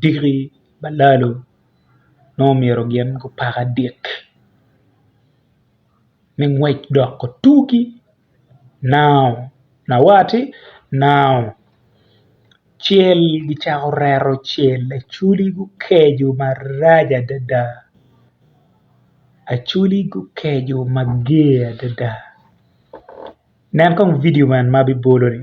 diki balalo nongo myero gin gupak adik me ngwec dok gutugi nao awati nao cel gicako reto cel acholi gukeco marac adada acholi gukeco mager adada nen kong vidio man ma abibolo-ni.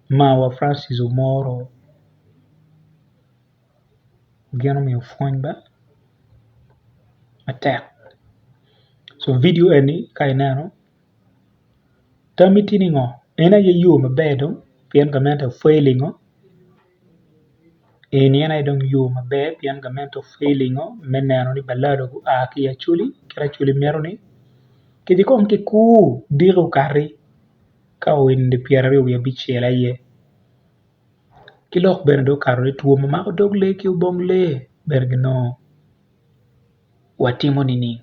Mawa Francis omoro gin omiyo pwony ba matek so vidio eni ka ineno tami tye ni ngo en aye yo maber dong pien gamente pwony olingo eni en aye dong yo maber pien gamente pwony olingo me neno ni balada gua ki i acholi kit ma acholi mito ni kiti kong kikur diki okati ka oeni pyeraryo wiye abicel aye ki lok bene dong okato ni two ma mako dog lee ki obong lee bene ginongo watimo nining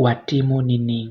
watimo nining